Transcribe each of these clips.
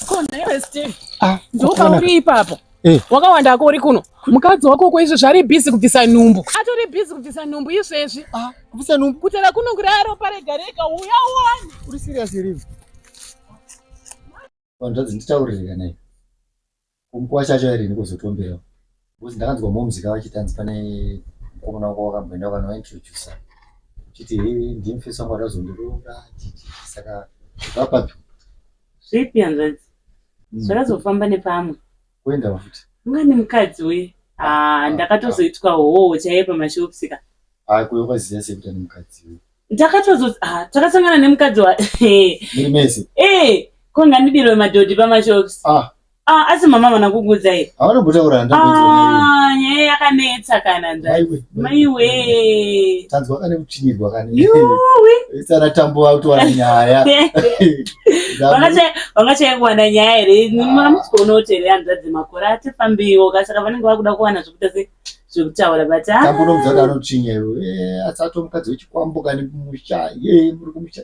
Ko nhaiwe Steve. Ah, ndopauri ipapo. Eh. Wakawanda hako uri kuno. Mukadzi wako uko izvezvi ari busy kubvisa nhumbu. Atori busy kubvisa nhumbu izvezvi. Ah, kubvisa nhumbu. Kutera kuno kuraro pare gareka uya uone. Uri serious here? Wanzvadzi nditaurire kana iwe. Kumukuwa chacho here ndikozotomberawo because ndakanzwa moms ka vachiti hanzi pane mukomana wako wakamboenda wakanointrodusa chiti hei ndimi first wangu atazondiroora chiti saka vapapi zvipi hanzvadzi hmm. zvakazofamba nepamwe kuenda vafuti ungani mukadzi we ah, ah, ah, ndakatozoitwa hoo chaiye pamashopsika haa kuyo kwaziva sekuti ane mukadzi we ndakatozo takasangana nemukadzi wa mese e eh, konga ndidirwe madhodhi pamashops Ah, asi mama havana kukuudza here? Havana kutaura handakuudza. Ah, nyaya yakanetsa kana nzvai. Maiwe. Tanzwa kane kuchinyirwa kane. Yuwi. Isana tambo wakutowana nyaya. Vangachaya kuwana nyaya here? Mama musikona kuti here hanzvadzi makore ati fambiwo kasaka vanenge vakuda kuwana zvekuita se zvekutaura but ah. tambo nomudzaka anochinya iwe eh, asi atomukadzi wechikwambo kane kumusha ye muri kumusha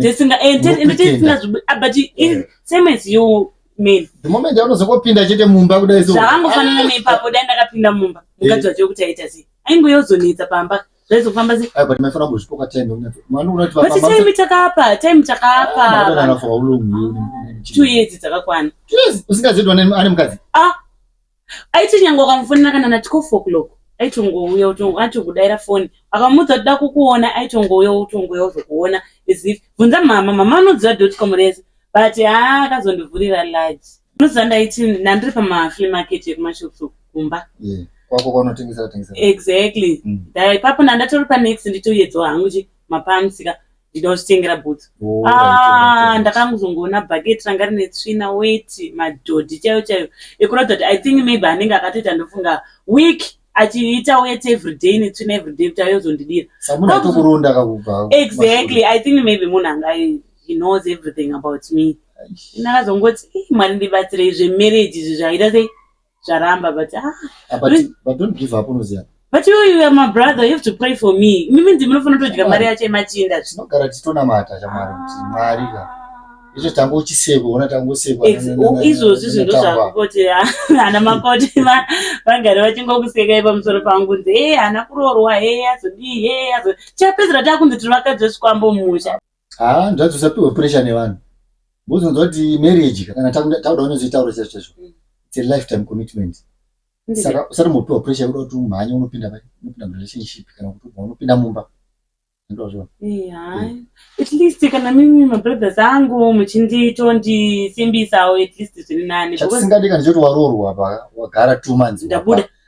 tisinga eh, ende tisinga ah, but eh. same as you men the moment yaunozongopinda chete mumba kudai so zvakangofanana ah. neipapo dai ndakapinda mumba eh. mukadzi wacho kuti aita sei ainge yozonetsa pamba zvaizofamba sei but maifana kuzvipoka time unacho mwana unati baba but time takapa time takapa ah, mwana anafa ulungu two years dzakakwana two years usingazivi kuti ane mukadzi ah aiti nyange wakamufonera kana na 12 o'clock aitongouya utongo atongodaira foni akamudza kuti dakukuona aitongouya utongouya uzokuona as if bvunza mama mama anoziva dotcom rese but haa akazondivhurira large unoziva ndaiti ndandiri pamafree market ekumashops kumba yeah kwako kwanotengesera tengesera exactly mm. ipapo ndandatori panext nditoyedzwa hangu chi mapamsika ndida kuzvitengera bhutsu oh, ah, ndakangozongoona bhaketi ranga rine tsvina weti madhodhi chaiyo chaiyo ekuratidza kuti i think maybe anenge akatoita ndofunga week achiita weti everyday netsvina everyday kuti ayozondidira exactly i think maybe munhu anga he knows everything about me ndakazongoti mwari ndibatsirei zvemarriage izvi zvaita sei zvaramba but ah, ah but, but don't give up unoziva but you, you are my brother you have to pray for me mimi ndimi unofanira kutodya mari yacho yemachinda tinogara tichitonamata chamwari kuti ah. mwari ka izvo tanga uchisekwa ona tanga usekwa izvozvi zvinhu zvakuti ana makoti vagari vachingokusekai pamusoro pangu nzi e eh, hana kuroorwa e eh, azodii e eh, azo chapedzera takunzi tiri vakadzi vesikwambo musha haa nzvadzi usapihwe pressure nevanhu bozonzwa kuti marriage kana tauda unozoitaura chacho chacho mm. its a lifetime commitment saka usati mopiwa pressure yekuda kuti umhanye unopinda pai unopinda murelationship kana kuti ubva unopinda mumba ndozvo mm. at least kana mimi mabrothers angu muchinditoondisimbisawo at least zviri nani chatisingadi kana choti waroorwa apa wagara two months ndabuda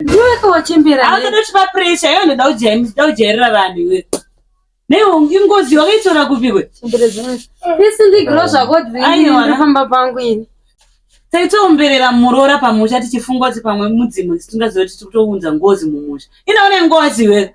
ndiwekawachemberaaatochipa presha iwe ndoda kujairira vanhu iwe neingozi wakaitora kupihwe isindigiro zvakoaifamba pangu ini taitoomberera muroora pamusha tichifunga kuti pamwe mudzimu tisingaziva tichitounza ngozi mumusha inaone ngozi iwe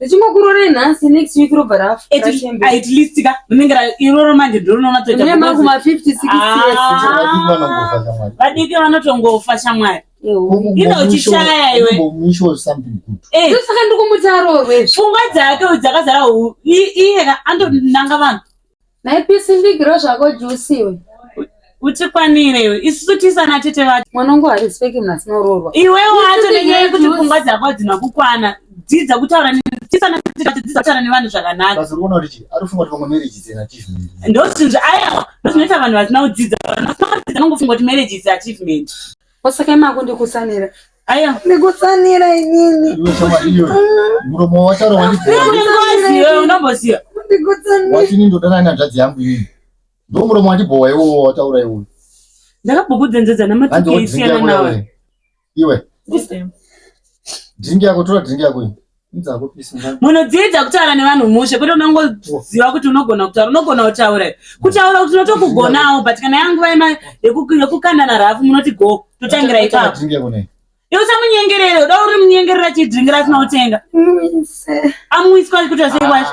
Tichingokurorei nhasi next week robva rafa. At, at least ka rinenge iroro manje ndorinoona toita. Mune makuma 50 60 years. Ah. Vadiki vanotongofa shamwari. Ino uchishaya iwe. Eh. Saka ndikumutaro wewe. Pfungwa dzake dzakazara iye anonanga vanhu. Naipisi mbigiro zvako juice iwe. Utikwanire iwe. Isusu tisana tete vacho. Mwana wangu harespeki munhu asina uroorwa. Iwe wacho nenyaya yekuti pfungwa dzako hadzina kukwana. Dzidza kutaura tisana tete vacho dzidza kutaura nevanhu zvakanaka. Basi unoona kuti chii? Ari kufunga kuti pamwe marriage is an achievement. Ndozvinzvi aya ndozvinoita vanhu vasina kudzidza. Vanhu vasina kudzidza vanongofunga kuti marriage is achievement. Osaka imako ndikusanira. Aya. Ndikutsanira inini. Muromo wacharo wandibvira. Ndikutsanira. Wewe unomboziva. Ndikutsanira. Wachini ndodana nyanzvadzi yangu iyi. Ndo muromo wandibhowa iwo wataura iwo. Ndakabhubudzenjedza namatike isiyana nawe. Iwe. Drink yako tora drink yako iyi. munodziidza kutaura nevanhu mushe kwete unongoziva kuti unogona kutaura unogona kutaura kutaura kuti unotokugonawo but kana yanguva yekukandana rafu munoti go totangira ipapo iwe samunyengerere uda uri munyengerera chidringira asina kutenga amwiswa kuti asei wacho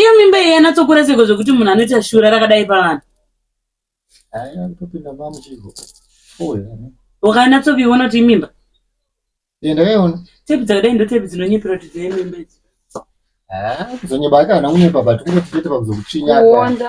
iyo mimba iyi yanatsokura seko zvekuti munhu anoita shura rakadai pavanhu ukanatsoviona kuti imimba ndakaiona tepi dzakadai ndotepi dzinonyepera kuti dzine mimba idzi kuzonyeba ake hana kunyepa but kungoti chete pakuzokutsvinyaka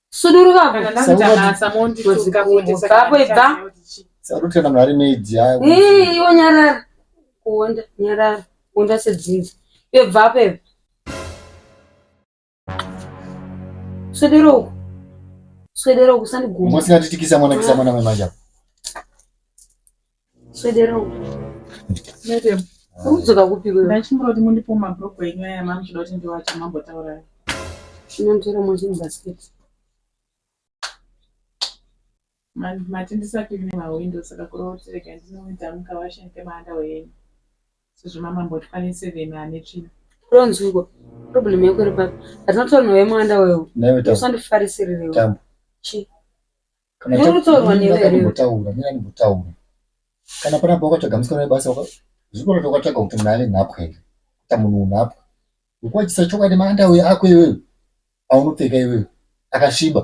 suduruka kuitaapoibva sarutana mwari maidzi yako iwo nyarara kuonda nyarara kuonda sedzinza iyo bvapo ibva swedera uku swedera uku sandiguma usingatitikisa mwana kisa mwana wemanja Swedera uko. Madam, unodzoka kupi wewe? Ndachimboti mundipo mabroko enyu aya mamuchida kuti ndiwache mambotaura. Chinonzvera mozini basket. Man, mati ndisati mune mawindow saka kureva kuti rega ndinoita mukawashen kemanda wenyu. Sezvo mama mboti pane seven ane tsvina. Ronzwiko. Problem yako iri papi? Atinotaura nawe mwanda wewe. Nawe tamu. Usandifarisirire wewe. Tamu. Chi? Kana Uri ta- kutorwa newe Mira, ere? ndimbotaura, mira ndimbotaura. Kana pana baba wakatsvaga musikana webasa waka- zvikoro kuti wakatsvaga kuti munhu ave nhapwa here kuita munhu unhapwa ukuwachisa chokwadi maandauya ako iwewe aunopfeka iwewe akasviba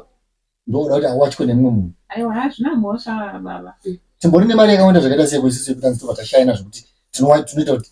ndooda kuti awachwe nemumwe munhu aiwa hazvina mhosva baba timbori nemari yakawanda zvakaita seyekuisisi yekuti anzi tobva tashayana zvekuti tinowa- tinoita kuti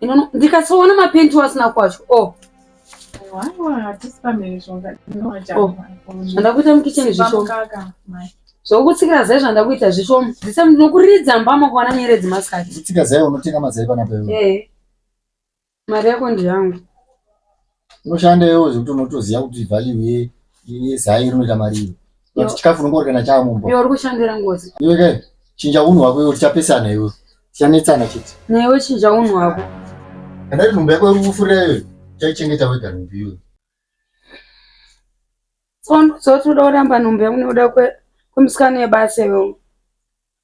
inono ndikasoona mapenti wasina kwacho o oh. oh. zvanda kuita mukicheni zvishoma zvokutsikira zai zvanda kuita zvishoma ndisa ndinokuridza mbama kuwana nyeredzi masikati kutsika zai unotenga mazai pana pewe mari yako ndiyangu unoshanda iwewe zvekuti unotoziva kuti value yezai rinoita mari iyo but chikafu unenge uri kana chava mumba uri kushandira ngozi iwe kai chinja unhu hwako iwe tichapesana iwe tichanetsana chete newe chinja unhu hwako andati nhumbu yako iri kufurira iwe chaichengeta wega nhumbu iwe tsondo dzoti uda kuramba nhumbu yangu nekuda kwemusikana yebasa iwe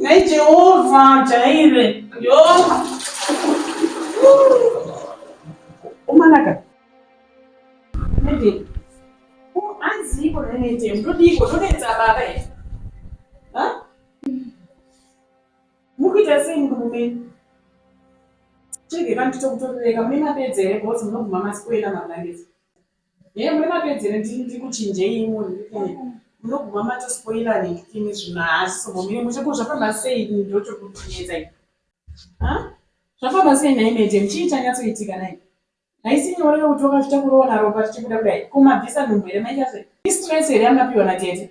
Nhai Jehovha jaire. Yo. Umanaka. Nende. Oh, anzi iko nende. Ndodiko ndonetsa baba here? Ha? Mukuita sei murume? Chege kana kutokutorereka mune mapedzi here because munoguma masikwela mablanket. Hey muri mapedzere ndini ndiri kuchinjei imuri munoguma mato spoiler nekini zvino haasi sombomire mushe ko zvafamba sei ini ndoto kutinetsa ini ha zvafamba sei nhai mete muchii chanyatsoitika nai haisi nyore yokuti wakazvita kuroona ropa tichibuda kudai ko mabvisa nhumbu here maita sei istress here yamapiwa na tete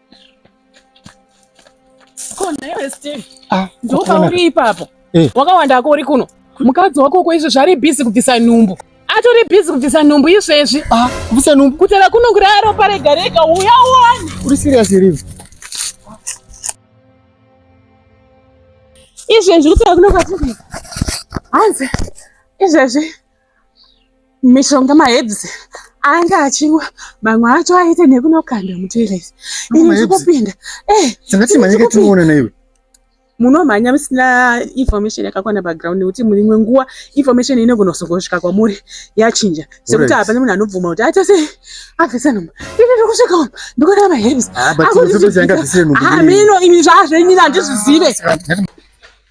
Ko nhaiwe Steve, Ah, ndopa kuona- uri ipapo Eh. wakawanda ako uri kuno mukadzi wako uko izvezvi ari bhizi kubvisa nhumbu atori bhizi kubvisa nhumbu izvezvi Ah, kubvisa nhumbu. kutera kuno kuraya ropa rega rega uya uone Uri serious here iwe? izvezvi kutera kuno kwatiri hanzi izvezvi mishonga maherbs ange achinwa mamwe acho aite nekunokanda mutoilet ini ndikupinda eh, munomhanya musina information yakakwana background nekuti muimwe nguva information inogona kuzongosvika kwamuri yachinja sekuti hapana munhu anobvuma kuti aita sei abvisa nhumba ini ndikusvika umu ndikuona maherbs ah, amino ah, imi zvaazvenyina handizvizive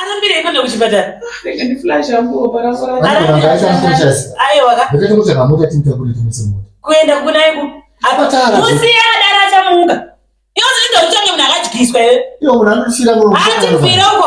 arambirei kuenda kuchipatara kuenda kunaiku musiyadara achamuka iwo zvinenge uchange munhu akadyiswa here hatifiroko